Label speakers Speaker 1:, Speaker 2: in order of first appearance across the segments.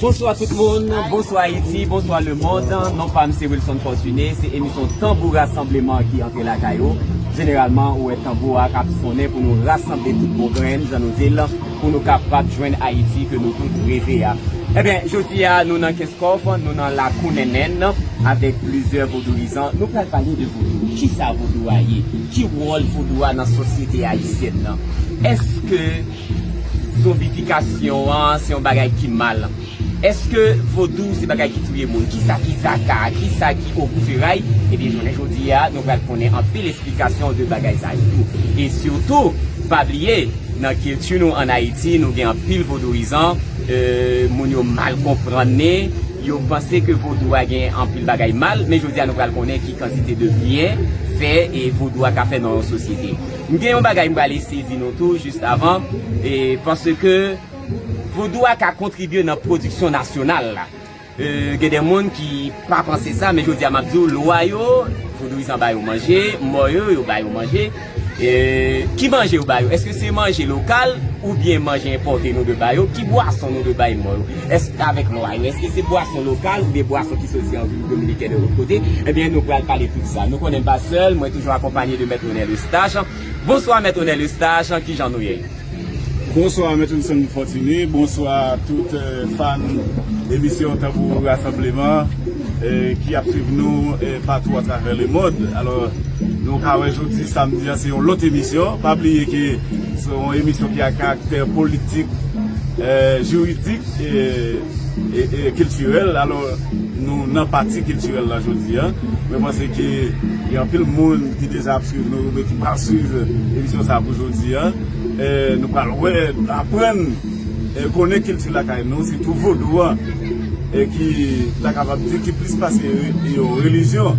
Speaker 1: Bonswa tout moun, bonswa Ayiti, bonswa lemond, non pam se Wilson Fortuné, se emisyon tanbou rasanbleman ki antre lakay ou, jeneralman ou wè tanbou a kap sonnen pou nou rasanble tout bon grenn jan nou dil pou nou kapab jwenn Ayiti ke nou tout reve a. Ebyen jodi a nou nan Kenskòf, nou nan lakou Nènèn avèk plizyè vodouyizan, nou pral pale de vodou, kisa vodou a ye, ki wòl vodou a nan sosyete ayisyèn nan, èske. Zonbifikasyon an se yon bagay ki mal. Eske vodou se bagay ki touye moun? Kisa ki zaka? Kisa ki ogou feray? Ebyen jounen jodi a nou pral konnen anpil esplikasyon de bagay sa yo tou. E sitou pa bliye nan kilti nou an Ayiti nou gen anpil vodouyizan, moun yo mal konprann ni yo panse ke vodou a gen anpil bagay mal men jodi a nou pral konnen ki kantite de byen fè vodou a ka fè nan yon sosyete. M gen yon bagay m prale eseye di nou tou just avan, paske vodou a ka kontribye nan pwodiksyon nasyonal la. Gen de moun ki pa panse sa, men jodi a m ap di w, lwa yo, vodouyizan ba yo manje, mò yo, yo ba yo manje. Ki manje yo ba yo? Eske se manje lokal oubyen manje enpòte nou dwe ba yo? Ki bwason nou dwe bay mò yo? Eske avèk lwa yo? Eske se bwason lokal oubyen bwason ki soti an Repiblik Dominiken e lòt kote? Ebyen nou pral pale tout sa. Nou konnen m pa sèl, mwen toujou akonpanye de mèt. Onel Eustache Bonswa mèt Onel Eustache kijan nou ye? Bonswa
Speaker 2: mèt Wilson Fortuné bonswa tout fan emisyon tanbou rasanbleman ki ap swiv nou patou atravè le mond alò nou ka wè jodi samdi an se yon lòt emisyon pa bliye ke se yon emisyon ki a karaktè politik jiridik e kiltirèl alò nou nan pati kiltirèl la jodi an mwen panse ke gen anpil moun Ki deja ap swiv nou oubyen ki pral swiv emisyon sa pou jodi a, nou pral wè, aprann e konnen kilti lakay nou, sitou vodou an ki ta kapab di ki plis pase yon relijyon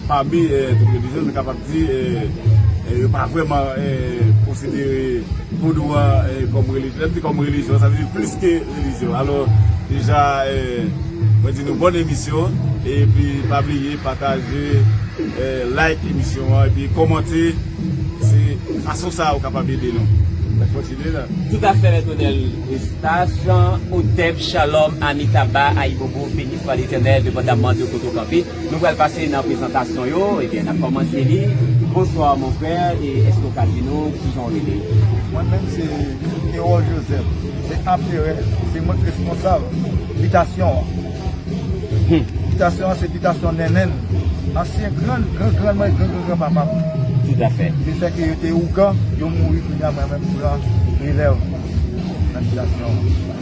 Speaker 2: pami tout relijyon nou kapab di yo pa vrèman konsidere vodou an kòm relijyon sa vle di kòm relijyon sa vle di plis ke Release yo alò deja mwen di nou bòn emisyon epi pa bliye pataje like emisyon an epi kòmante se fason sa ou kapab ede nou mèt kontinye la.
Speaker 1: Toutafè Mèt Onèl Estaf Jan Otèb Chalòm Amitaba Ayibobo Beni swa Letènèl Depandamman de kote w kanpe. Nou pral pase nan prezantasyon yo ebyen nap kòmanse li bonsoir mon frère e eske ou ka di nou kijan ou rele? Mwen menm se
Speaker 3: Erol Joseph se Amperè se mwen k responsab bitasyon an Hum. Bitasyon an se bitasyon Nènèn ansyen gran gran gran mwen gran gran gran papa m Tout afè.
Speaker 1: Li fè ke yo te ougan
Speaker 3: yo mouri kounya mwen menm m pran relèv nan bitasyon an.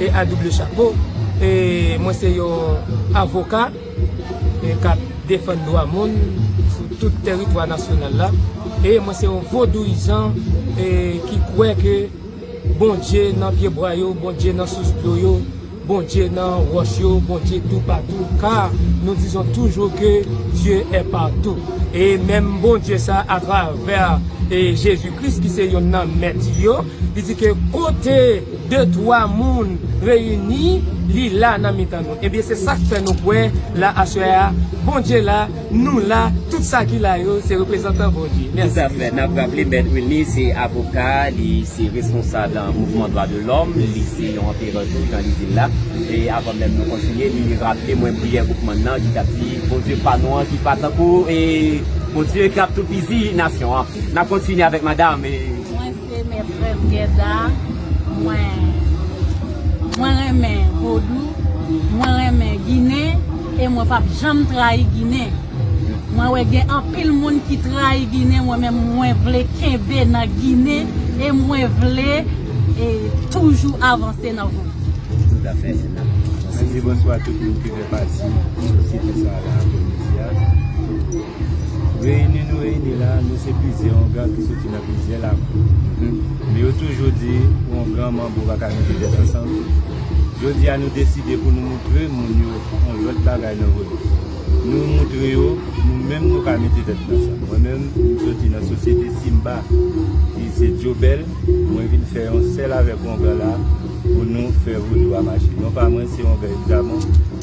Speaker 4: E a double chapo, e mwen se yon avoka e kap defann dwa moun sou tout teritwa nasyonal la, e mwen se yon vodouyizan e ki kwè ke Bondye nan pye bwa yo, Bondye nan sous dlo yo, Bondye nan wòch yo, Bondye tou patou, ka nou dizon toujou ke Dieu est partout. E menm Bondye sa a travè e Jezi Kris ki se yonn nan mèt yo, li di ke kote. 2 twa moun reyini li la nan mitan nou ebyen se sak fè nou kwè la aswè a Bondye la nou la tout sa ki la yo se reprezantan Bondye mèsi. Toutafè, nap raple Mèt
Speaker 1: Wilny se avoka, li se responsab nan mouvman dwa de lòm, li se yon anperè tou nan izil la. E avan menm nou kontinye, li raple mwen priyè Boukman nan ki tap di Bondye pa nou an ki pa tankou Bondye kap toupizi nasyon an. Nap kontinye avèk madam. Se
Speaker 5: mè frèm Guedda mwen mwen renmen vodou mwen renmen ginen e mwen pap janm trayi ginen mwen wè gen anpil moun ki trayi ginen mwen menm mwen vle kenbe nan ginen e mwen vle e toujou avanse nan vodou. Toutafè Ena. Mwen
Speaker 1: di bonswa
Speaker 6: a tout moun ki fè pati sosyete sa a la aprè midi a. Reyini nou reyini la, nou se plizyè ongan ki soti nan plizyè lakou. Men yo toujou di, ongan manbo pa ka mete tèt ansanm. Jodi a nou deside pou nou moutre moun yo yon lòt bagay nan vodou. Nou moutre yo, nou menm nou ka mete tèt nou ansanm. Mwen menm, m soti nan sosyete Simba ki se Dyobèl, mwen vin fè yon sèl avèk ongan la pou nou fè vodou a mache. Non pa mwen, se ongan Egzamon.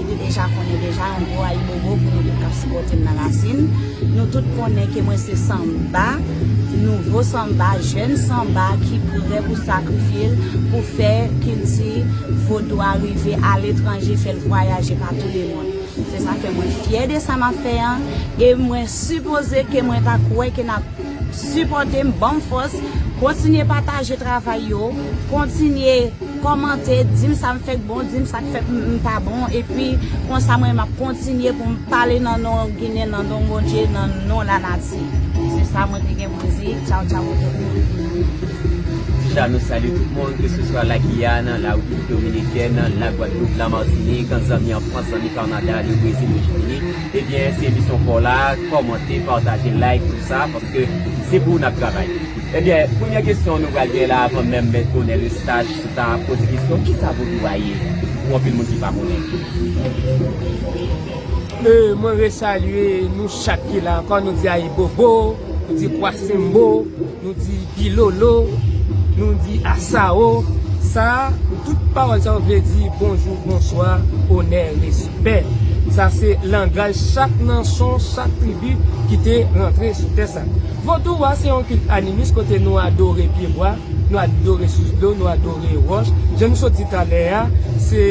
Speaker 5: Ou te deja konnen deja yon gwo ayibobo pou nou tout kap sipòte m nan rasin. Nou tout konnen ke mwen se sanba, nouvo sanba, jèn sanba ki prè pou sakrifye l pou fè kilti vodou a rive aletranje, fè l vwayaje pa tou le mond. Se sa fè mwen fyè de sa m ap fè an e mwen sipoze ke mwen ta kwè ke n ap sipòte m, ban m fòs, kontinye pataje travay yo, kontinye. Kòmante, dim sam fè k bon, dim sak fè m pa bon epi konsa mwen map kontinye pou m pale nan non ginen nan non Bondye nan non la nati se sa mwen te gen pou m di tchaw tchaw pou tout moun. Ti cha
Speaker 1: nou salye tout moun ke se swa la Guyane, la République Dominicaine, la Guadeloupe, la Martinique, zanmi an France, zanmi Canada, le Brésil, le Chili, ebyen se emisyon paw la, kòmante, pataje, like tout sa paske se pou ou nap travay. Ebyen, premye kesyon nou pral gen la avan menm Mèt Bonèl Estaj sou ta ap poze kesyon, kisa Vodou a ye pou anpil moun ki pa konnen? Mwen resalye
Speaker 4: nou chak ki la ankò, nou di Ayibobo, nou di Kwasembo, nou di Bilolo, nou di Asawo, sa a, tout pawòl sa yo vle di bonjou, bonswa, onè, respè. Sa se langaj chak nanchon, chak tribi ki te rantre sou tè sa. Vodou a se yon kilt animis kote nou adore pyebwa, nou adore sous dlo, nou adore wòch. Jan nou sot di talè a, se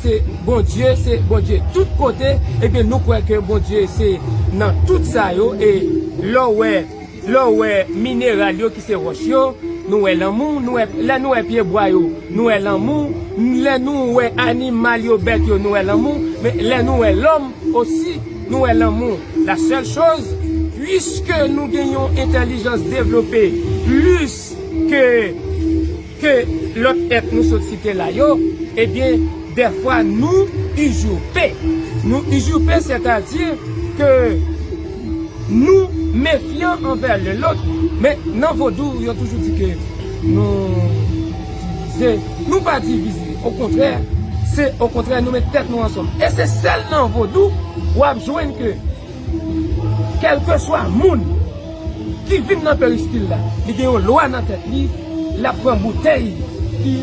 Speaker 4: se Bondye, se Bondye tout kote. Ebyen nou kwè ke Bondye se nan tout sa yo e lè w wè, lè w wè mineral yo ki se wòch yo, nou wè lanmou, nou wè, lè nou wè pyebwa yo, nou wè lanmou, lè nou wè animal yo, bèt yo, nou wè lanmou, men lè nou wè lòm osi, nou wè lanmou. La sèl choz, puiske nou gen yon entèlijans devlope plis ke ke lòt èt nou sot site la yo, ebyen dèfwa nou uzurpe. Nou uzurpe sètadi ke nou mefyan anvè len lòt. Men nan vodou yo toujou di ke nou divize. Nou pa divize okontrè se okontrè nou met tèt nou ansanm e se sèl nan vodou wap jwenn ke kèlkeswa moun ki vin nan peristil la li gen yon lwa nan tèt li lap pran boutèy ki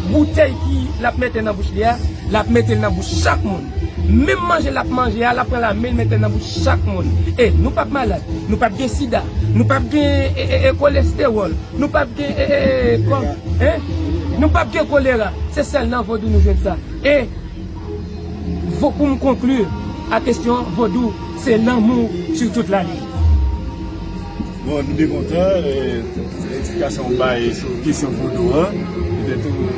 Speaker 4: boutèy ki lap mete nan bouch li a lap metel nan bouch chak moun menm manje lap manje a lap pran la menl metel nan bouch chak moun e nou pap malad nou pap gen sida nou pap gen kolestewòl nou pap gen Hein? Nou pap gen kolera, se sèl nan vodou nou jwenn sa. E vo pou m konkli a kesyon vodou se lanmou sur toute la ligne.
Speaker 2: Bon, nou byen kontan pou eksplikasyon ou bay sou kesyon vodou an. Petèt ou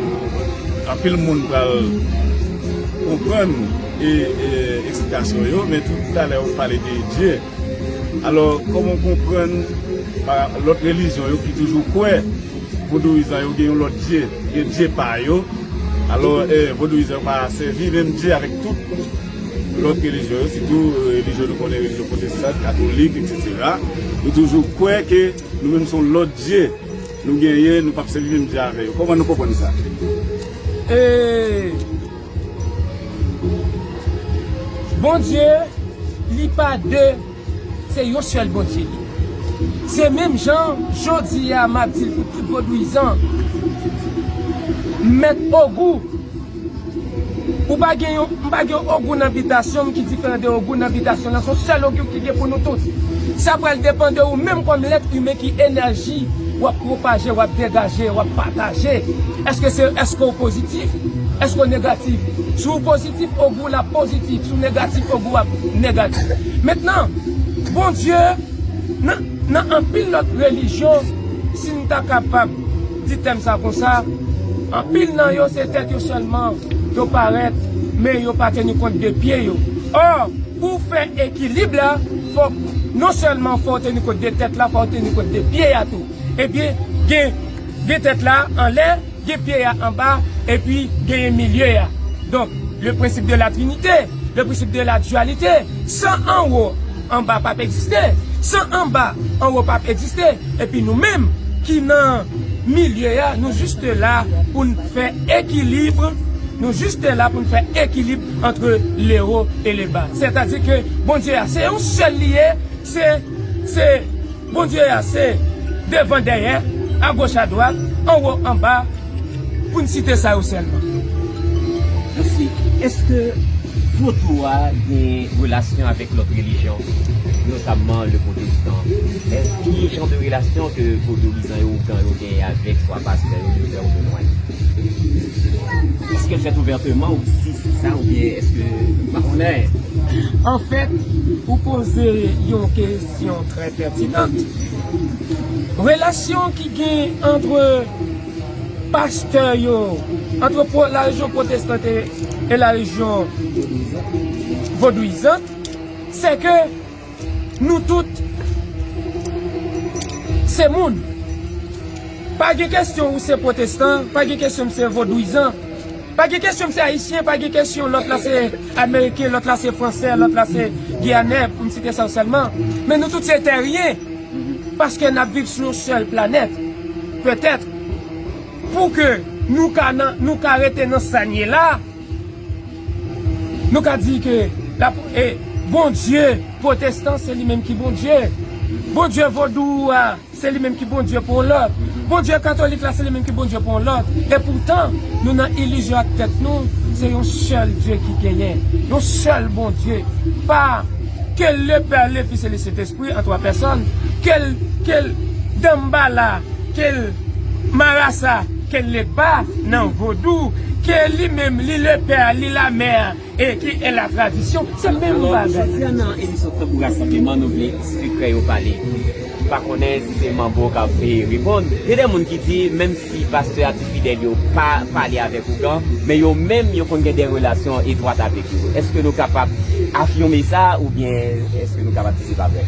Speaker 2: anpil moun pral konprann eksplikasyon yo, men tout talè ou pale de Dye. Alò kòman w konprann lòt relijyon yo ki toujou kwè vodouyizan yo gen yon lòt dye, gen dye pa yo, alò vodouyizan yo pa sèvi menm dye avèk tout lòt relijyon yo sitou relijyon nou konnen relijyon pwotestan, katolik eksetera yo toujou kwè ke nou menm se yon lòt dye nou genyen nou pap sèvi menm dye avè yo kòman nou konprann sa?
Speaker 4: Bondye li pa de se yon sèl Bondye li ye se menm jan jodi a map dil pou tout vodouyizan mèt ogou ou pa gen yon m pa gen yon ogou nan bitasyonm ki diferan de ogou nan bitasyon lan son sèl ogou ki gen pou nou tout sa pral depan de ou menm kòm lèt imen ki enèji wap pwopaje wap degaje wap pataje èske se èske ou pozitif. positif èske w negatif si w positif ogou w la positif si w negatif ogou w ap negatif mentnan Bondye nan nan anpil lòt relijyon si n ta kapab di tèm sa konsa anpil nan yo se tèt yo sèlman yo parèt men yo pa teni kont de pye yo ò pou w fè ekilib la fòk non sèlman fò w teni kont de tèt la fò w teni kont de pye a tou ebyen gen gen tèt la anlè. Gen pye ya anba epi genyen milye ya donk le prensip de la trinite le prensip de la dualite san anwo anba pap egziste san anba anwo pap egziste epi nou menm ki nan milye ya nou juste la poun fè ekilibre nou juste la poun fè ekilibre antre le ho e le ba sètadi ke Bondye ya se yon sèl li ye se se. Bondye a se, devan dèyè, agoch adwat, anwo anba, pou n site sa yo sèlman.
Speaker 1: Mèsi. Èske Vodou a gen relasyon avèk lòt relijyon, notamman le pwotestan? Ki jan de relasyon ke Vodouyizan yo, Ougan yo genyen avèk swa pastè yo, Doktè yo, Temway? Èske l fèt ouvèteman ou si se sa oubyen èske ou pa konnen? Anfèt,
Speaker 4: ou poze yon. Kesyon trè pètinant. Relasyon ki gen antre pastè yo, antre la rejyon pwotestante e la rejyon vodouyizant, se ke nou tout se moun. Pa gen kesyon ou se pwotestan, pa gen kesyon m se vodouyizan. Pa gen kesyon m se ayisyen, pa gen kesyon lòt la se ameriken, lòt la se fransè, lòt la se giyanè pou m site sa yo sèlman. Men nou tout se tèryen paske n ap viv sou yon sèl planèt. Petèt pou ke nou ka nan, nou ka rete nan sa n ye la, nou ka di ke la, e Bondye pwotestan se li menm ki Bondye. Bondye vodou a. Se li menm ki Bondye pou yon lòt. Bondye katolik la se li menm ki Bondye pou yon lòt. E poutan, nou nan ilizyon ak tèt nou, se yon sèl Dye ki genyen. Yon sèl Bondye. Pa Ke le Pè, le Fis e le Sentespri an twa pèsòn. Ke l, ke l Danmbala, ke l Marasa, ke l Legba nan Vodou. Ke li menm, li le Pè, li la Mè. Eke e la tradisyon se menm bagay. Alò jodi an nan emisyon
Speaker 1: Tanbou Rasanbleman nou vle sekrè yo pale. M pa konnen si se manbo k ap reponn. Gen de moun ki di menm si pastè ak ti fidèl yo pa pale avèk ougan men yo menm yo konn gen de relasyon etwat avèk yo. Eske nou kapab afime sa oubyen eske nou kapab di se pa vre?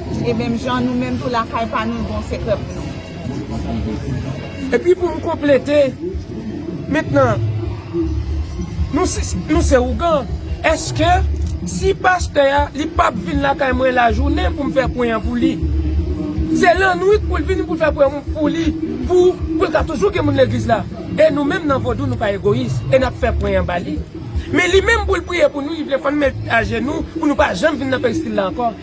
Speaker 7: E menm jan nou menm tou lakay pa nou gon sekrè
Speaker 4: pou nou. E pi pou m konplete, mentnan nou se ougan, eske si pastè a li pa p vin lakay mwen lajounen pou m fè pwen an pou li, se lannwit pou l vini pou l fè pwen pou li pou l ka toujou gen moun legliz la? E nou menm nan vodou nou pa egoyis e n ap fè pwen an ba li. Men li menm pou l priye pou nou li vle fè n met ajenou pou nou pa janm vin nan peristil la ankò.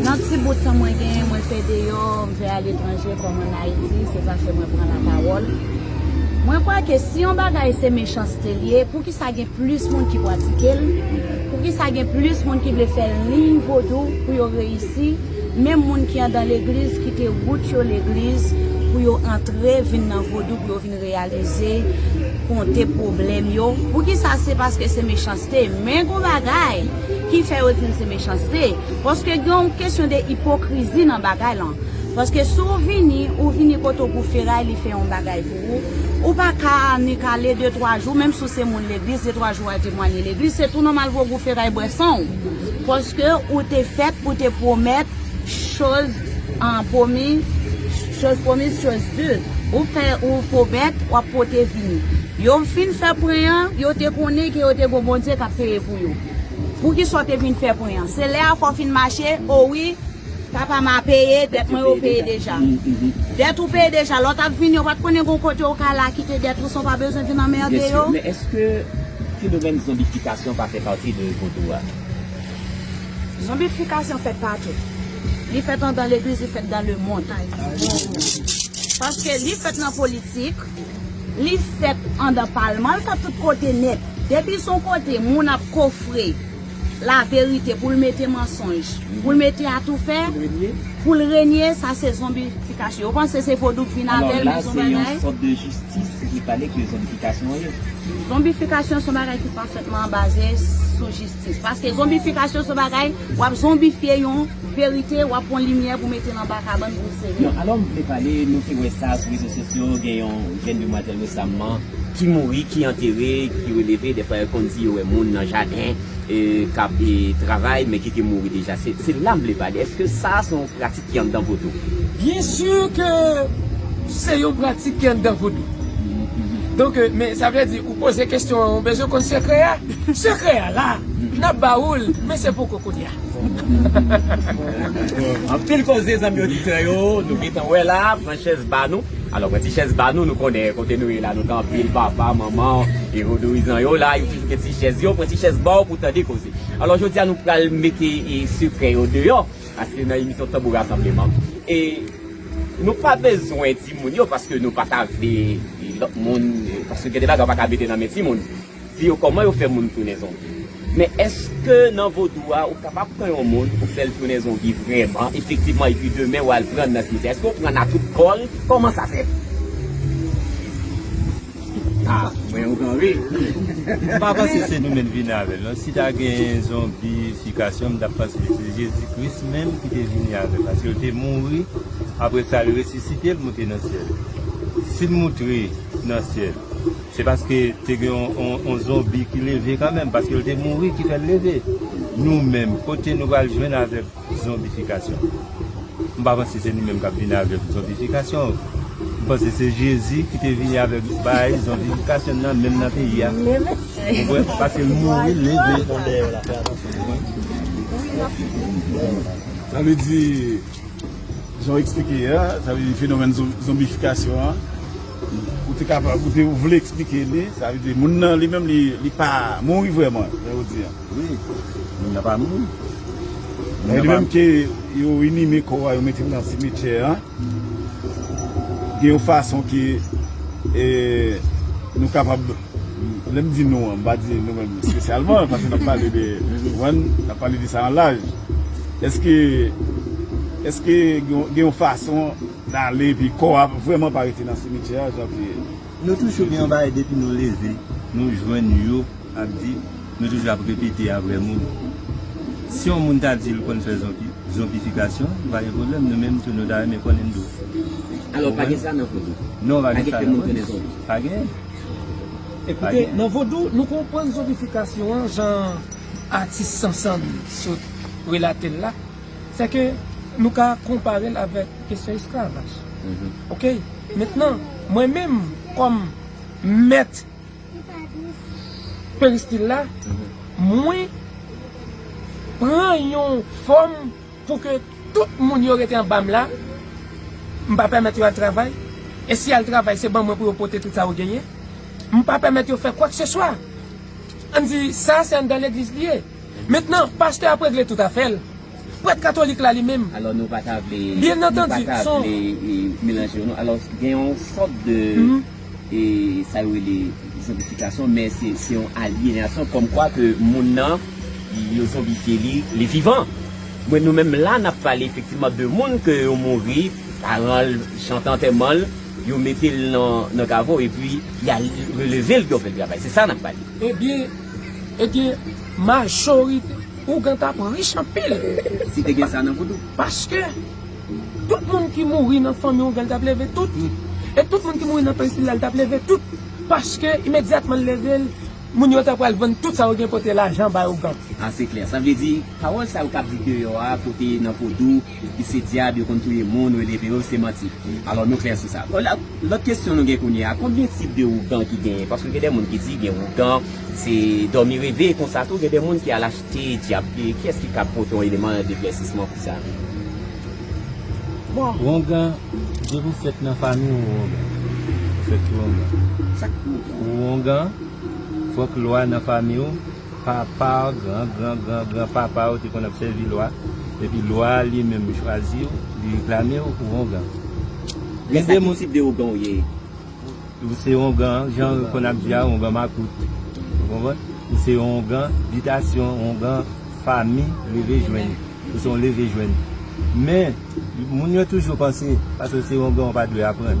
Speaker 5: Nan ti bout tan mwen genyen, mwen fè deyò, m fè aletranje kòm an Ayiti, se sa k fè mwen pran lapawòl. Mwen kwè ke si yon bagay se mechanste l ye, poukisa gen plis moun ki pratike l? Poukisa gen plis moun ki vle fè liy vodou pou yo reyisi, menm moun ki andan legliz kite wout yo legliz pou yo antre vin nan vodou pou yo vin reyalize, konte pwoblèm yo? Poukisa se paske se mechanste? Men gon bagay! Ki fè yo di l se mechanste? Paske gen yon kesyon de ipokrizi nan bagay lan. Paske si w vini, ou vini kote w pou feray li fè yon bagay pou ou, ou pa ka annik ale de twa jou, menm si w se moun legliz, de twa jou w al temwanye legliz, se tou nòmal pou yo gou feray bwè san w. Paske ou te fèt, ou te pwomèt, choz pwomiz, choz pwomiz, choz di. Ou fè, ou pwomèt, w ap pote vini. Yo fin fè pwen an, yo te konnen ke yo te gou Bondye k ap peye pou. yo. Poukisa w te vin fè pwen an? Se lè a fò w fin mache? O wi, papa m a peye dèt mwen yo peye deja. Dèt ou peye deja, lè w t ap vini yo pa t konnen gen yon kote ou ka al la kite dèt ou san w pa bezwen vin anmède yo? Men èske
Speaker 1: fenomèn zonbifikasyon pa fè pati de vodou a?
Speaker 5: Zonbifikasyon fèt patou. Li fèt andan legliz, li fèt dan lemonn. Paske li fèt nan politik. Li fèt andan palman l ka tout kote nèt. Depi son kote moun ap kofre la verite pou l mete mansonj, pou l mete atoufè, pou l renye sa se zonbifikasyon. Yo panse se vodou k vin avè l men son bagay. Alò la se yon sòt de
Speaker 1: jistis ki pale ke zonbifikasyon ye. Zonbifikasyon son bagay
Speaker 5: ki pafètman baze sou jistis. Paske zonbifikasyon son bagay, wap zonbifye yon verite, wap pwan limyè pou metel anba kabann pou l sere. Non, alò m vle pale, nou
Speaker 1: te wè sa sou rezo sosyo, gen yon jenn demwazèl resamman ki mouri, ki antere, ki releve, dèfwa yo konn di yo wè moun nan jaden kap travay men ki te mouri deja. Se la m vle pale, èske sa se yon pratik? ki anndan vodou? Byen sûr
Speaker 4: ke se yon pratik ki anndan vodou. Donk, men sa vle di ou poze kestyon an ou bezwen konn sekrè a? Sekrè a la, n ap ba ou l, men se poko kounya.
Speaker 1: Anpil koze zanmi oditè yo, nou gentan wè la, pran chèz ba nou. Alò pran ti chèz ba nou, nou konnen kote nou ye la, nou tan pil papa, manman, e vodouyizan yo la, yo toujou gen ti chèz yo, pran ti chèz ba w pou tande koze. Alò jodi a nou pral mete sekrè yo deyò. Paske nan emisyon tanbou rasanbleman e nou pa bezwen di moun yo paske nou pa ta vle lòt moun paske gen de bagay ou pa ka mete nan men ti moun di yo kòman yo fè moun tounen zonbi men eske nan vodou a ou kapab pran yon moun ou fèl tounen zonbi vrèman efektivman epi demen ou al prann nan simityè eske ou prann a tout kòl kòman sa fèt. Ah mwen yon gran wi. M pa
Speaker 6: panse se nou menm vini avèl non si ta gen zonbi fikasyon m tap panse se jezi kris menm ki te vini avèl paske l te mouri aprè sa l resisite l moute nan syèl si l moutre nan syèl se paske te gen yon zonbi ki leve kanmenm paske l te mouri ki fèl leve nou menm kote nou pral jwenn avèk. Zonbifikasyon. M pa panse se nou menm k ap vini avèk zonbifikasyon. M panse se Jezi ki te vini avèk bagay zonbifikasyon nan menm nan peyi a. Ou konprann? Paske l mouri, l leve.
Speaker 2: Sa vle di, jan w eksplike a, sa vle di fenomèn zonbifikasyon an, ou te kapab, ou te vle eksplike li, sa vle di moun nan li menm li pa mouri vrèman, jan ou di an. Wi,
Speaker 3: moun nan pa moun. Moun nan pa
Speaker 2: moun. Gen yon fason yo inime kò a, yo mete l nan simetyè a. Gen yon fason ke nou kapab, lè m di nou an, m pa di nou menm espesyalman, paske n ap pale de, ou konprann, n ap pale de sa an laj. Eske, eske gen yon fason n ale epi kò a vrèman pa rete nan simetyè a jan ke. Nou
Speaker 6: toujou gen yon bagay depi nou leve nou jwenn yo ap di, nou toujou ap repete apre moun. Si yon moun ta di l konn fè zonbi, zonbifikasyon, pa gen pwoblèm, nou menm tou nou ta renmen konnen tou. Alò pa gen
Speaker 1: sa nan vodou? Non, pa gen sa nan vodou.
Speaker 6: Pa genyen.
Speaker 4: E koute, nan vodou, nou konprann zonbifikasyon an jan atis Sansàn sot relate l la. Se ke nou ka konpare l avèk kesyon esklavaj. Ok? Mentnan, mwen menm kòm mèt peristil la, mwen pran yon fòm pou ke tout moun yo rete anba m la, m pa pèmèt yo al travay, e si y al travay se ban mwen pou yo pote tout sa yo genyen. M pa pèmèt yo fè kwakseswa. Ann di, sa se anndan legliz li ye. Mentnan, pastè ap regle tout afè l. Prèt katolik la li menm. Alò nou pa ta vle.
Speaker 1: Byen antandi,
Speaker 4: son.
Speaker 1: Melanje yo non. Alò gen yon sòt de e sa yo rele zonbifikasyon men se se yon alyenasyon kòm kwa ke moun nan yo zonbifye li, li vivan. Mwen nou menm la n ap pale efektivman de moun ke yo mouri, paran l chante antèman l, yo mete l nan nan kavo epi y al releve l pou yo fè l travay. Se sa n ap pale. Ebyen.
Speaker 4: Ebyen majorite ougan tap rich anpil. Si te gen sa nan
Speaker 1: vodou. Paske
Speaker 4: tout moun ki mouri nan fanmi ougan li tap leve tout. E tout moun ki mouri nan peyi sila li tap leve tout. Paske imedyatman li leve l moun yo ta pral vann tout sa yo gen pote lajan bay ougan. A se klè. Sa vle
Speaker 1: di pawòl sa yo kap di deyò a kote nan vodou. Epi se dyab yo konn touye moun ou eleve yo se manti alò nou klè sou sa. Lòt kesyon nou gen kounye a konbyen tip de ougan ki genyen paske gen de moun ki di gen ougan se dòmi reve konsa tou gen de moun ki al achte dyab kiyès ki kab pote yon eleman deklèsisman pou sa bon.
Speaker 6: Wongan depi ou fèt nan fami ou wongan ou fèt wongan sak pou ou
Speaker 1: wongan
Speaker 6: fòk lwa nan fami ou. Papa w, gran gran gran gran papa w te konn ap sèvi lwa, epi lwa a li menm chwazi w, li reklame w pou ongan.
Speaker 1: Gen de moun. Lè sa ki tip de ougan w ye? Ou
Speaker 6: se ongan, jan yo konn ap di a, ongan makout. Ou konprann? Ou se yon ongan bitasyon, ongan fami leve jwenn. Ou se yon leve jwenn. Men, moun yo toujou panse, paske w se ongan ou pa dwe aprann.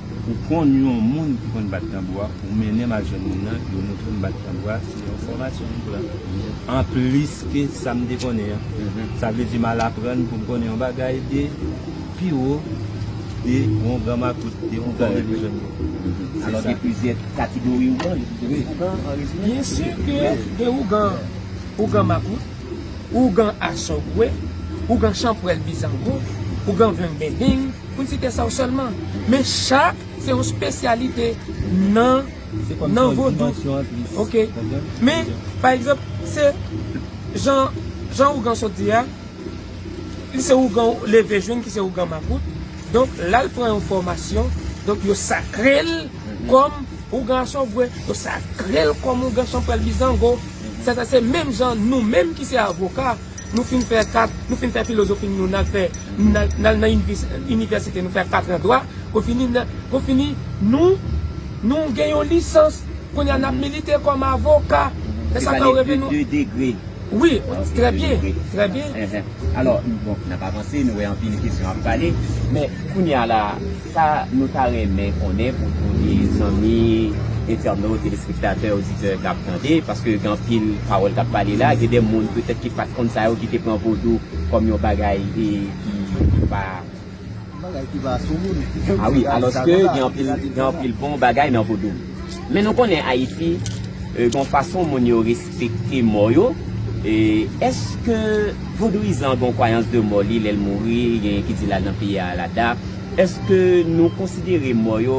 Speaker 6: Ou konn yon moun ki konn bat tanbou a, ou mennen m al jwenn moun nan, yo moutre m bat tanbou a, se yon fòmasyon m pran anplis ke sa m te konnen an. Sa vle di m al aprann pou m konnen yon bagay de pi wo, de yon gran makout, de yon gran relijyon. Alò gen plizyè kategori ougan, gen plizyè
Speaker 1: tip ougan an rezime?
Speaker 4: Byen si ke gen ougan, ougan makout, ougan asogwe, ougan chanpwèl bizango, ougan vengbendeng. Pou site sa w sèlman. Men cha se yon spesyalite nan vodou. Ok. Men, pa egzanp, se jan ougan sot di a, li se ougan ou leve jwenn ki se ougan makout. Donk, la l pran yon fòmasyon. Donk, yo sakre l kòm ougan asògwe. Yo sakre l kòm ougan chanpwèl bizango. Sa se menm jan nou menm ki se avoka. Nou fin fè kat, nou fin fè filozofi n nou n al fè, n al nan inivèsite nou fè katran dwa, pou fini n, pou fini nou, nou gen yon lisans, kounye a n ap milite kòm avoka, e sa fè w reve
Speaker 1: nou. Se pale de 2 degre. Wi, trè
Speaker 4: byen, trè byen. Alò,
Speaker 1: bon, n ap avanse, nou wè anpil kesyon ap pale, men kounye a la. Sa nou ta renmen konnen pou tout zanmi entènot, telespektatè, oditè k ap tande, paske gen anpil pawòl k ap pale la, gen de moun petèt ki pa t konn sa yo, ki te pran vodou kòm yon bagay ki pa. Yon bagay ki pa
Speaker 3: sou moun. A wi, alòske
Speaker 1: gen anpil bon bagay nan vodou. Men nou konnen Ayiti, gen yon fason moun yo. Fekte mò yo, Eske vodouyizan gen yon kwayans de mò li lè l mouri, genyen ki di l al nan peyi Alada, Eske nou konsidere mò yo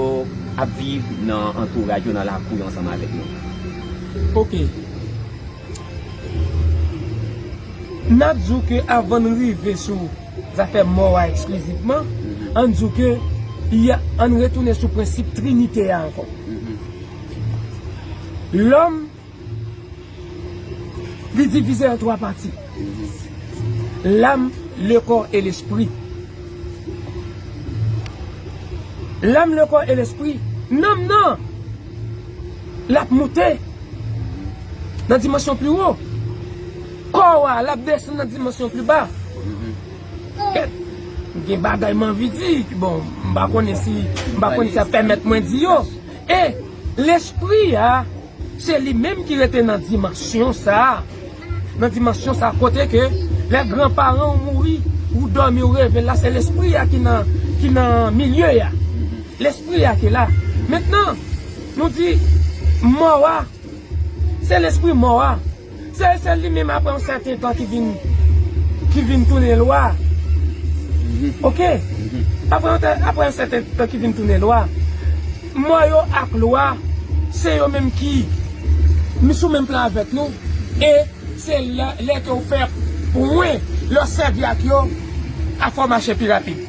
Speaker 1: ap viv nan antouraj yo, nan lakou yo ansanm avèk nou? Ok.
Speaker 4: N ap di w ke avan n rive sou zafè mò a eksklizivman, an n di w ke an n retounen sou prensip trinite a ankò. Lòm. Li divize an 3 pati. Lam, le kò e lespri. Lam, le kò e lespri. Nanm nan, lap moute nan dimansyon pli wo. Kò wa, lap desann nan dimansyon pli ba. Kèt, gen bagay manvi di, bon, mba konnen si, mba konnen sa pèmèt mwen di yo. E, Lespri a, se li menm ki rete nan dimansyon sa a, nan dimansyon sa a kote ke lè gran paran ou mouri, ou dòmi ou reve la, se Lespri a ki nan, ki nan milye a. Lespri a ki la. Mentnan, nou di, mò a, se Lespri mò a. Sèl sèl li menm aprè yon sèten tan ki vin ki vin tounen lwa ok aprè yon sèten tan ki vin tounen lwa mò yo ak lwa se yo menm ki m sou menm plan avèk nou e se lè ke ou fè pou mwen lè w sèvi ak yo afè w mache pi rapid.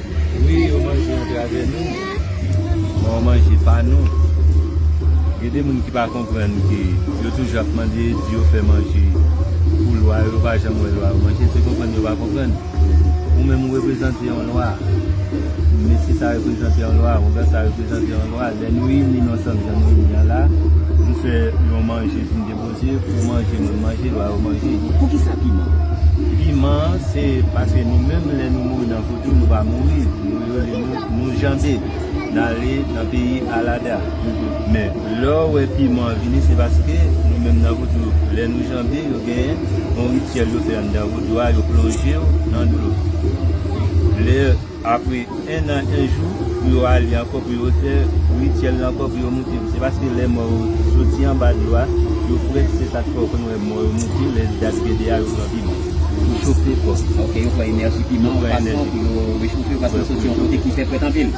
Speaker 6: Wi yo manje antrave nou men yo manje pa nou gen de moun ki pa konprann ke yo toujou ap mande di yo fè manje pou lwa yo pa janm wè lwa yo manje se konprann yo pa konprann ou menm ou reprezante yon lwa mesye sa reprezante yon lwa houngan sa reprezante yon lwa lè nou ini nou ansanm jan nou ini an la nou fè yon manje pou nou te Bondye pou manje moun manje lwa yo manje. Poukisa
Speaker 1: piman? Piman
Speaker 6: se paske nou menm lè nou mouri nan vodou nou pa mouri nou rele nou nou janbe n ale nan peyi alada men lè w wè piman an vini se paske nou menm nan vodou lè nou janbe yo genyen yon rityèl yo fè anndan vodou a yo plonje w nan dlo lè Apre enn an enn jou pou yo ale ankò pou yo fè rityèl la ankò pou yo moute yo. Se paske lè mò yo soti anba dlo a, yo fre se sa k fè ou konn wè mò yo moute lè dat gede a yo pran piman pou chofe kò. Ok yo pran enèji
Speaker 1: piman yon fason pou yo rechofe yo paske yo soti yon kote ki fè frèt anpil.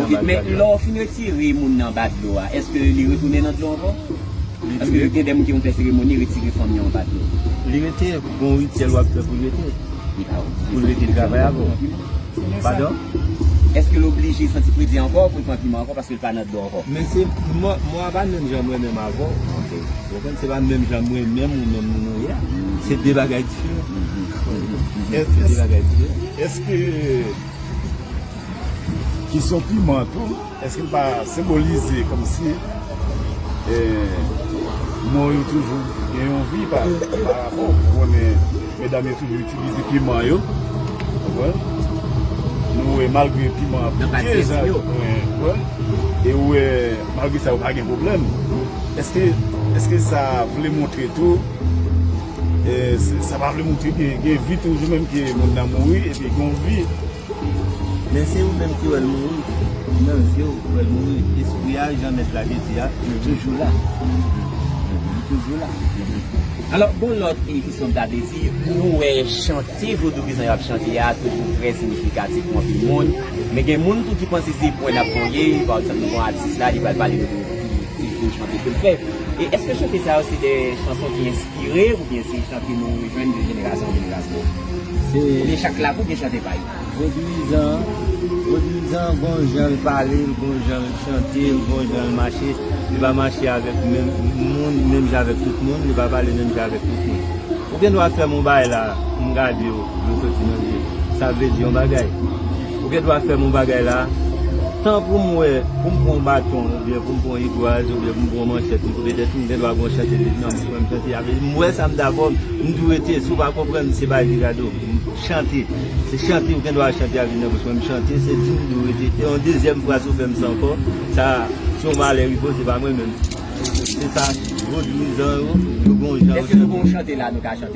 Speaker 1: Ok men lè ou fin retire moun nan anba dlo a èske li retounen nan dlo ankò? Paske gen de moun ki konn fè seremoni retire fanm yo anba dlo. Li rete. Gon
Speaker 6: rityèl wap fè poul rete. Poul rete travay avè w. Padon? Eske
Speaker 1: l oblije santi fredi ankò pou l pran piman ankò paske l pa nan dlo ankò? Men se, mwen
Speaker 6: a pa menm jan mwen menm avè w. Ok. Ou konprann? Se pa menm jan mwen menm ou menm nou ye a. Se 2 bagay diferan. Se 2 bagay diferan.
Speaker 2: Eske kesyon piman an tou. Eske li pa senbolize komsi mò yo toujou gen yon vi pa rapò ou konnen medam yo toujou itilize piman yo nou wè malgre piman ap piye sa yo e ou wè malgre sa yo pa gen problem eske sa vle montre tou sa pa vle montre gen vi toujou menm ke moun nan mouri epi gen yon vi
Speaker 6: Men se ou menm ki wèl mouri nan zyew ou wèl mouri espri a jan mèt la te di a li toujou la li toujou la alò
Speaker 1: gon lòt ki ki son gade si nou wè chante vodou ki jan yap chante a toujou trè sinifikatif pou anpil moun men gen moun tou ki panse se pwen nap voye pa egzanp nou gon atis la li pral pale nou de ti chante kel fè e eske chante sa yo se de chanson ki enspire. Dire oubyen se chante nou jwenn de jenerasyon an jenerasyon? Oubyen chak klak ou gen
Speaker 6: chante pa yo? Vodwizan, Vodwizan gon jan l pale, gon jan l chante, gon jan l mache. Li pa mache avèk menm moun, menm jan avèk tout moun, li pa pale menm jan avèk tout moun. Ou gen dwa fè m yon bagay la, m gade w, dlo soti nan je m. Sa vle di yon bagay. Ou gen dwa fè m yon bagay la a? Tan pou m wè, pou m pran yon baton oubyen pou m pran yon rigwaz oubyen pou m pran yon manchèt pou m koupe tèt ou, m gen dwa gwo chante li nan bouch mwen, m chante avè li, m wè sa m dakò, m di w rete, si w pa konprann m se bay li kado, m chante, se chante ou gen dwa chante avè li nan bouch mwen, m chante, se di m di w rete, e yon dezyèm fwa si w fè m sa ankò, sa a, se yon malè wi bro, se pa mwen menm. Se sa vodouizan yo, yo gen yon jan yo chante. Èske nou gen yon chante la a
Speaker 1: nou ka chante?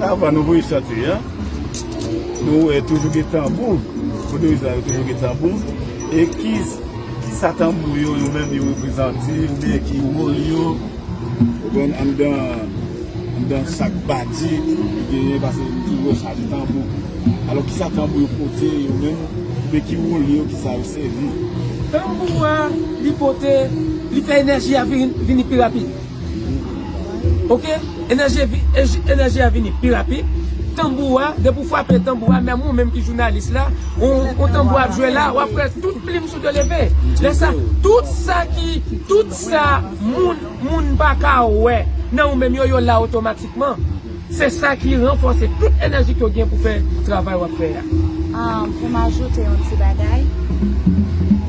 Speaker 2: Avan nou voye chante a, nou wè toujou gen tanbou. Vodouizan yo toujou gen tanbou. E ki sa tanbou yo yo menm yo reprezante? Ou bè ki wòl yo? Ou bèn an dan chak bati ki genyen pase yon toujou wè chak tanbou. Alò ki sa tanbou yo pote yo menm? Ou bè ki wòl yo? Ki sa yo sèvi? Tanbou a
Speaker 4: li pote, li fè enèji a vini pi rapid. Ok enèji a vini pi rapid tanbou a depi ou frape tanbou a menm ou menm ki jounalis la ou tanbou a ap jwe la wap wè tout plim sou de leve lè sa tout sa ki tout sa moun moun paka wè nan ou menm yo yo la otomatikman se sa ki ranfòse tout enèji ke ou gen pou fè travay wap fè a. Poum
Speaker 5: ajoute yon ti bagay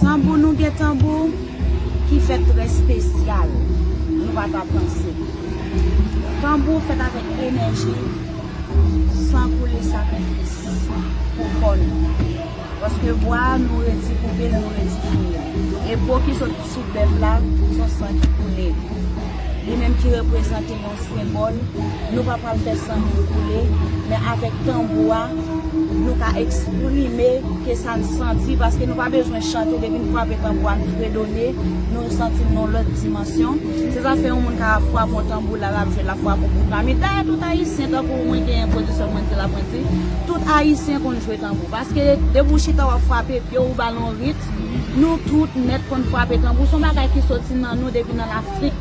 Speaker 5: tanbou nou gen tanbou. ki fèt trè spesyal nou pa ta panse. Tanbou fèt avèk enèji, san koule sakrifis pou kò nou. Paske bwa a nou redi koupe l, nou redi fouye l. E po ki sot sou bèf la, son san ki koule. Li menm ki reprezante. yon senbòl, nou pa pral fè san moun koule, men avèk tanbou a, nou ka eksprime ke sa n santi, paske nou pa bezwen chante, depi n frape tanbou a, n fredone, nou santi n nan yon lòt dimansyon. Se sa k fè yon moun ka frape yon tanbou, la l ap jwe, l ap frape yon bout la. Men dayè tout Ayisyen, tankou mwen genyen pwodiksyon mwen di la, mwen di, tout Ayisyen konn jwe tanbou, paske depi w chita w ap frape pye w, ou ba l yon ritm, nou tout nèt konn frape tanbou, s on bagay ki soti nan nou depi nan Lafrik.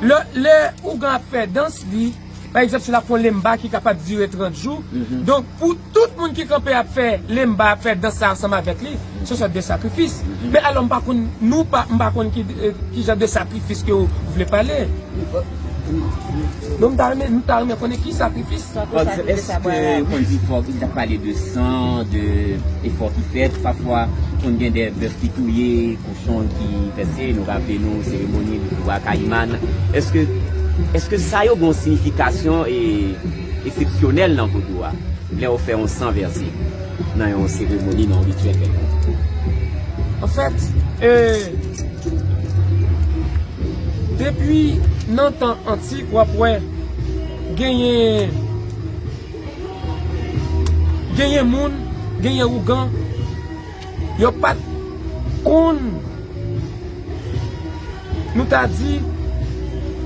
Speaker 4: Lè ougan ap fè dans li, pa egzanp si l ap fè yon lemba ki kapab dire 30 jou, donk pou tout moun ki kanpe ap fè lemba, ap fè dans sa ansanm avèk li, se yon sòt de sakrifis. Men alò m pa konn, nou pa, m pa konn ki jan de sakrifis ke ou vle pale. Donk m ta renmen, m ta renmen konnen ki sakrifis. Èske
Speaker 1: ou konn di fòk, li ta pale de san, de efò ki fèt, pafwa konn gen de bèf ki touye. Son ki pèse, nou raple nou seremoni Bwa Kayiman. Eske Eske sa yo gen yon siyifikasyon esepsyonèl nan vodou a? Lè yo fè yon san vèse nan yon seremoni, nan yon rityèl kèlkonk?
Speaker 4: Anfèt, depi nan tan antik w ap wè genyen genyen moun, genyen ougan. Yo pat konn nou ta di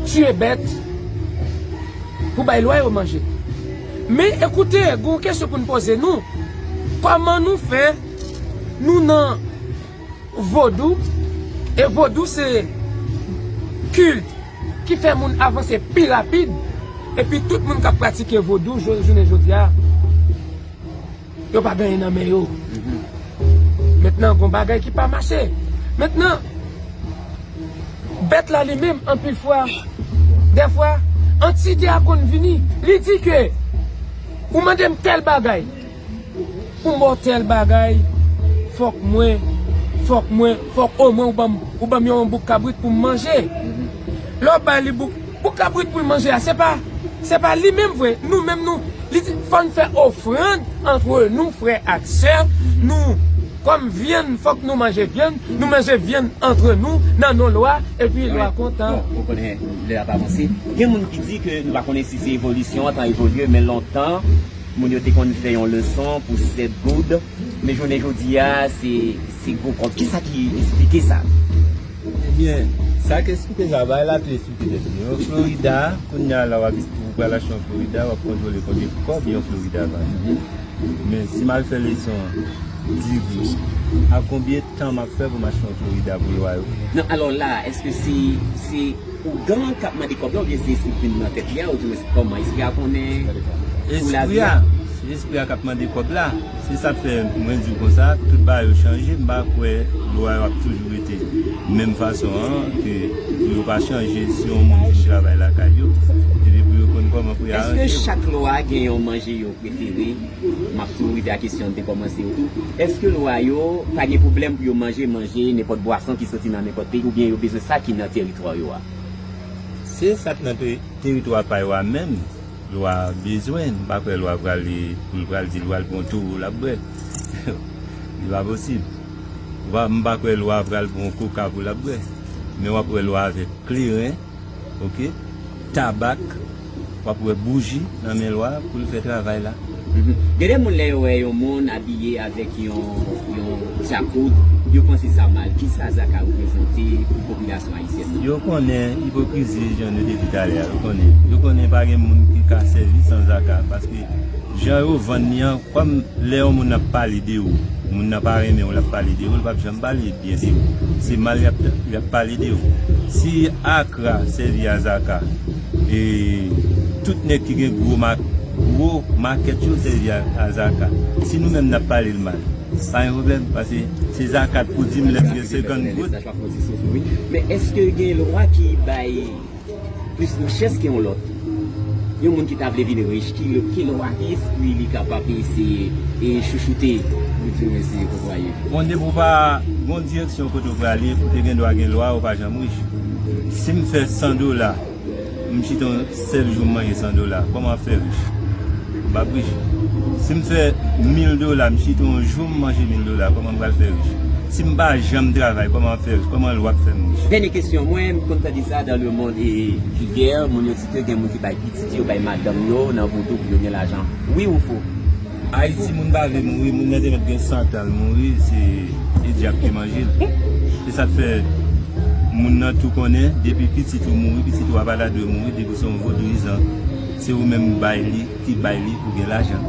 Speaker 4: tiye bèt pou bay lwa yo manje. Men ekoute gen yon kesyon pou n poze nou, kòman nou fè nou nan vodou e vodou se kilt ki fè moun avanse pi rapid epi tout moun k ap pratike vodou jounen jodi a Yo pa gen yen nan men yo. Mentnan gon bagay ki pa mache. Mentnan bèt la li menm anpil fwa dèfwa antite a konn vini li di ke ou mande m tèl bagay pou m ba w tèl bagay fòk mwen fòk mwen fòk omwen ou ban m yon bouk kabrit pou m manje. Lè w ba li bouk. Pou kabrit poul manje a se pa se pa li menm vre nou menm nou li di fòn fè ofrand antre nou frè ak sè nou kòm vyann fòk nou manje vyann nou manje vyann antre nou nan non lwa epi lwa kontan. Bon ou konnen lè
Speaker 1: ap avanse gen moun ki di ke nou pa konnen si se evolisyon an tan evolye men lontan moun yo te konn fè yon leson pou 7 goud. Men jounen jodi a, se gwo kòb. Ki sa ki esplike sa? Ebyen,
Speaker 6: sa ki esplike sa, bay la tou esplike tèt li. Yon Florida, kounye a la w ap, ou pral achte yon Florida, w ap kontwole konbyen kòb yon Florida va vin. Men, si m al fè leson diri, ak konbyen tan m ap fè pou m achte yon Florida pou lwa yo? Non, alò la,
Speaker 1: èske se, se Ougan kap mande kòb la oubyen se espri ki nan tèt li a ou di mwen se kòman espri a konnen pou lavi a. Se
Speaker 6: espri a kap mande kòb la se sak fè mwen diw konsa tout bagay yo chanje m pa kwè lwa yo ap toujou rete menm fason an ke pou yo pa chanje si yon moun fin travay lakay yo epi pou yo konn kòman pou yo aranje yo. Eske chak lwa
Speaker 1: gen yon manje yo prefere? M ap tou rive a kesyon m te kòmanse yo tou. Èske lwa yo pa gen pwoblèm pou yo manje manje nenpòt bwason ki soti nan nenpòt peyi oubyen yo bezwen sa ki nan teritwa yo a? Se
Speaker 6: sa k nan teritwa pa yo a menm lwa a bezwen. M pa kwè lwa pral pou l pral di lwa l pran towo l ap bwè. Li pa posib. M pa kwè lwa pral pran koka pou l ap bwè. Men w ap wè lwa avèk kleren. ok tabak wap wè bouji nan men lwa poul fè travay la. Gen de moun lè
Speaker 1: yo wè yon moun abiye avèk yon yon dyakout yo panse sa mal, kisa sa ka reprezante pou popilasyon ayisyèn nan? Yo konnen
Speaker 6: ipokrizi jan nou te di talè a yo konnen, yo konnen pa gen moun ki ka sèvi san zaka paske jan yo vann li an kòm lè yon moun ap pale de ou moun nan pa renmen ou lap pale de ou li pap janm Balie byen se ou se mal yap pale de ou si akra sèvi a zaka e tout nèg ki gen gro mak gro makèt yo sèvi a zaka si nou menm nap pale l mal pa gen problèm pase se zaka t pou dim lèm gen 50 goud.
Speaker 1: plis richès ke yon lòt. Yon moun ki ta vle vin rich, ki lè w a ki espri li kapab eseye e chouchoute pou di w mèsi, ou konprann? Bon, depi ou pa
Speaker 6: gon direksyon kote ou prale, ou te gen dwa gen lwa, ou pa janm rich. Si m fè 100 dola, m chita yon sèl jou m manje 100 dola, kòman m fè rich? Ma Brigitte, si m fè mil dola, m chita yon jou m manje mil dola, kòman m pral fè rich? Si m pa janm travay, kòman m ap fè rich? Kòman lwa ap fè m rich? Dènye kesyon mwen, m
Speaker 1: konn tande sa dans le monde vulgaire, moun yo di ke gen moun ki bay pitit yo, bay madanm yo nan vodou pou yo gen lajan. Wi ou fo? Ayiti moun
Speaker 6: pa vle mouri, moun nan te mèt gen 100 tan l mouri, se dyab ki manje l. Se sa k fè moun nan tou konnen depi pitit ou mouri, pitit ou a pa ta dwe mouri depi w se yon vodouyizan. Se ou menm bay li ki bay li pou gen lajan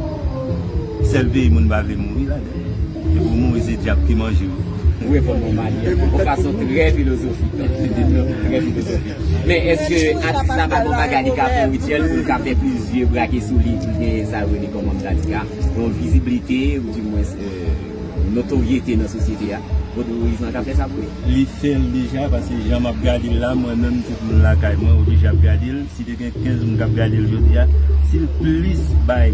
Speaker 6: sèl peyi moun pa vle mouri la dan epi ou mouri se dyab ki manje ou. Ou reponn mwen
Speaker 1: Malie yon fason trè filozofik yon reponn trè filozofik men eske atis la pa gen yon bagay li ka fè rityèl pou l ka fè plizyè brake sou li pou l gen sa yo rele kòm anm gradika yon viziblite ou di mwens. notoryete nan sosyete a, Vodou Moïse lan ka fè sa pou li. Li fèl deja
Speaker 6: pase jan map gadel la mwen menm tout moun lakay mwen oblije ap gadel si te gen 15 moun kap gadel jodia sil plis bay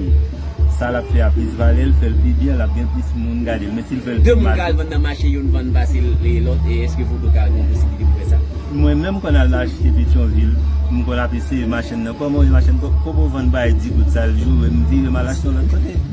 Speaker 6: sa lap fè a plis valè l fèl pi byen lap gen plis moun gadel men sil fèl pi mal. 2 moun ka al vann nan mache
Speaker 1: youn vann pase lòt e eske Vodou ka gen posiblite pou fè sa? Mwen menm m konn al
Speaker 6: mache petyonvil m konn ap eseye machenn nan kòman yon machenn kobo vann bay di goud sal joure m vire mal achte yon lòt kote.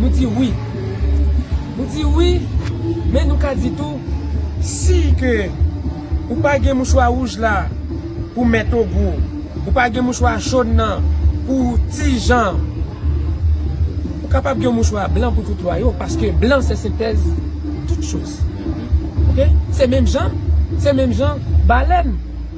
Speaker 4: Nou di wi. Nou di wi, men nou ka di tou, si ke ou pa gen mouchwa wouj la pou mèt ou gou, ou pa gen mouchwa jòn nan pou ti jan, ou kapab gen mouchwa blan pou tout lwa yo, paske blan se sentèz tout choz. Ok? Se menm jan, se menm jan, balèn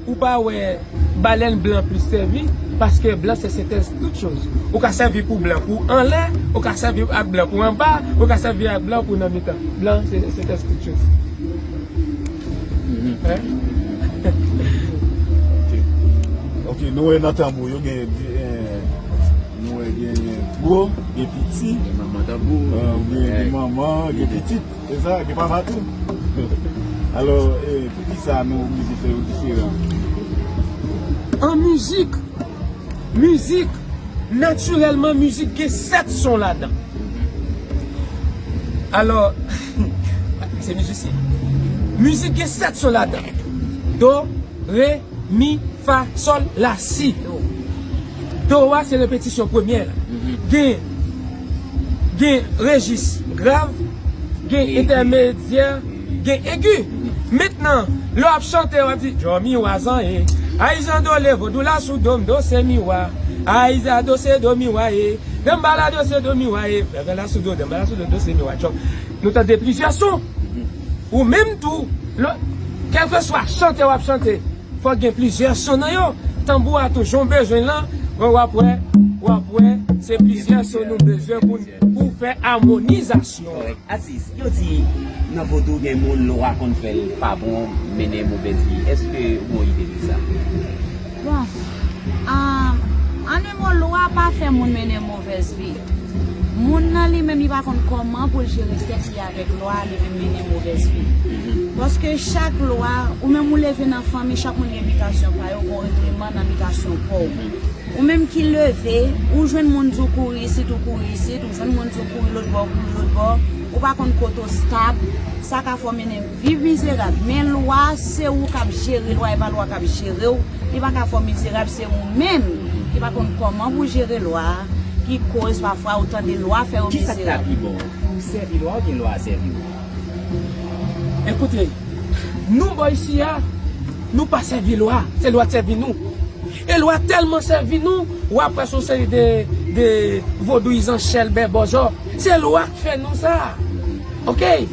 Speaker 4: ou pa wè. Balèn blan plis sèvi paske blan se sentèz tout choz. Ou ka sèvi pou blan pou anlè, ou ka sèvi ak blan pou anba, ou ka sèvi ak blan pou nan mitan. Blan se sentèz tout choz.
Speaker 2: Ok, nou wè nan tanbou yo gen gwo, gen piti, gen manman, gen pitit. Se sa, gen papa tou. Alò, pou ki sa nou mizik nou yo diferan?
Speaker 4: An mizik, mizik, natirèlman mizik gen 7 son ladan. Alò, se mizisyen. Mizik gen 7 son ladan. Do, re, mi, fa, sol, la, si. Toro a se repetisyon premyè a. Gen gen rejis grav, gen entèmedyè, gen egi. Mentnan, lè w ap chante, w ap di, Do, mi, wa, zan, e. Ay zan do le vodou la sou do m do se mi wa Ay za do se do mi wa e Danmbala do se do mi wa e Vèvè la sou do danmbala sou do do se mi wa Tchòp Nou tande plizyè son Ou menm tou lè w kèlkeswa chante w ap chante Fòk gen plizyè son nan yo. Tanbou a tou jan w bezwen l lan, wè wap wè, wap wè, se plizyè son nou bezwen pou n pou fè amonizasyon an. Kòrèk. Atis, yo
Speaker 1: di nan vodou gen moun lwa konn fè l pa bon, mennen movèz vi. Èske ou gon ide de sa? Bon, an 1
Speaker 5: mo lwa pa fè moun mennen. Presby. Moun nan li menm li pa konn kòman poul jere tèt li avèk lwa li vin mennen movèz vi. Paske chak lwa, ou menm ou leve nan fanmi chak moun gen bitasyon pa yo gon regleman nan bitasyon paw. Ou menm ki leve, ou jwenn moun di w kouri isit ou kouri isit, ou jwenn moun di w kouri lotbò ou kouri lotbò, ou pa konn kote w stab, sa ka fè w mennen. Viv mizerab men lwa se ou kap jere lwa epa lwa kap jerew li paka fè w mizerab se ou menm ki pa konn kòman pou jere lwa ki koz pafwa ou tande lwa fè ou mizerab. Kisak ta pi
Speaker 1: bon ou
Speaker 5: sèvi
Speaker 1: lwa oubyen lwa sèvi ou?
Speaker 4: Ekoute Nou bò isi a Nou pa sèvi lwa se lwa k sèvi Nou e lwa tèlman sèvi Nou wap wè son seri de de vodouyizan chèlbè bòzò se lwa k fè Nou sa ok.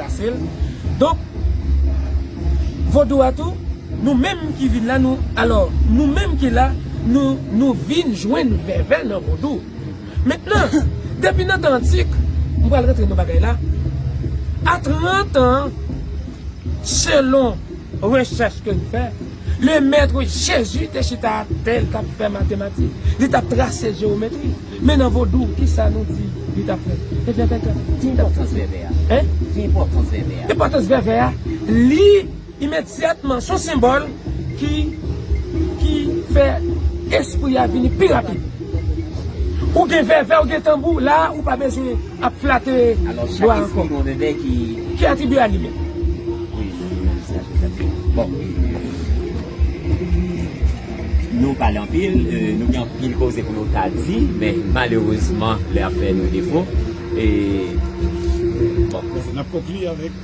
Speaker 4: pase l donk vodou a tou nou menm ki vin la nou alò nou menm ki la nou nou vin jwenn vèvè nan vodou mentnan depi nan tan antik m pral rantre nan bagay la a 30 an selon rechèch ke n fè le mètre jezi te chita atè l t ap fè matematik li t ap trase jewometri. Men nan vodou kisa nou di li tap fè? E vèvè tap Ki enpòtans
Speaker 1: vèvè a? Hein? Ki enpòtans
Speaker 4: vèvè
Speaker 1: a? Enpòtans vèvè a
Speaker 4: li imedyatman son senbòl ki ki fè espri a vini pi rapid Ou gen vèvè ou gen tanbou la ou pa bezwen ap flate Alò chak espri
Speaker 1: gen yon vèvè ki Ki atribye a
Speaker 4: li menm Wi, sa se sa
Speaker 1: ki Bon Nou pale anpil, nou gen anpil koze pou nou ta di, men malerezman lè ap fè nou defo. N ap konkli
Speaker 2: avèk.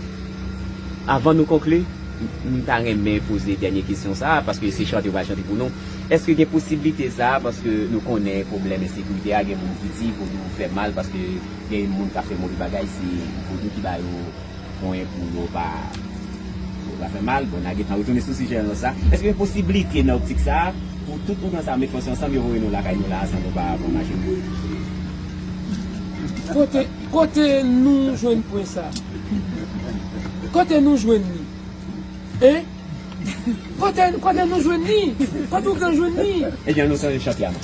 Speaker 1: Avan nou konkli, m ta renmen poze dènye kesyon sa a, paske se chante yo pral chante pou nou. Èske gen posiblite sa a, paske nou konnen pwoblèm ensekirite a, gen moun ki di vodou fè mal paske gen moun k ap fè move bagay se vodou ki ba yo. konyen pou yo pa fè mal. Bon, n a gentan retounen sou sijè lòt sa. Èske gen posiblite nan optik sa a pou tout ougan sa yo met fòs yo ansanm yo voye nou lakay nou la a san nou pa pran machin nou?
Speaker 4: Kote nou jwenn pwen sa a? Kote nou jwenn li? Hein? Kote nou jwenn li? Kote ougan jwenn li? E jan nou sonje chante
Speaker 1: a non.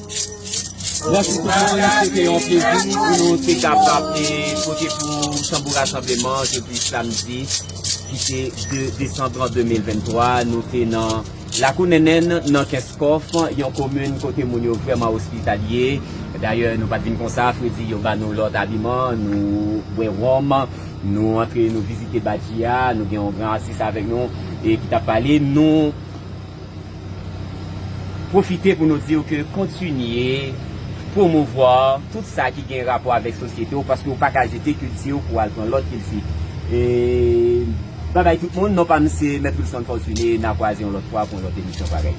Speaker 1: Bonjou tout moun, se te yon plezi pou nou te kapab pote pou nou tanbou rasanbleman jodi samdi ki se 2 desambran 2023. Nou te nan lakou Nènèn nan Kenskòf, yon komin kote moun yo vrèman ospitalye. Dayè nou pat vin konsa, fredi yo ba nou lòt abiman, nou bwè wonm, nou antre nou vizite badji a, nou gen yon gran atis avèk nou e ki tap pale nou. Pwofite pou nou di w ke kontinye pwomouvwa tout sa ki gen rapò avèk sosyete w paske w pa ka jete kilti w pou w al pran lòt kilti. Babay tout moun, non pa m se Mèt Wilson Fortuné, n a kwaze yon lòt fwa pou yon lòt emisyon parèy.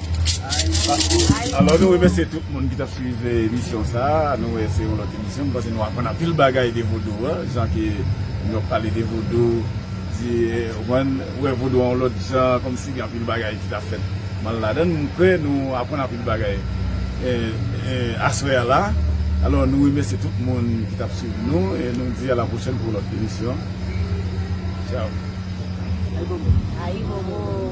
Speaker 2: Alò nou remèsye tout moun ki t ap swiv emisyon sa a, nou wè se yon lòt emisyon, m panse nou aprann anpil bagay de Vodou an, jan ke nou ap pale de Vodou, di, ou konprann. Ou wè vodou an yon lòt jan kòmsi gen anpil bagay ki ta fèt mal ladan l. M kwè nou aprann anpil bagay aswè a la. Alò nou remèsye tout moun ki t ap swiv nou e nou di a la pwochèn pou yon lòt emisyon. Tchao! Ayibobo!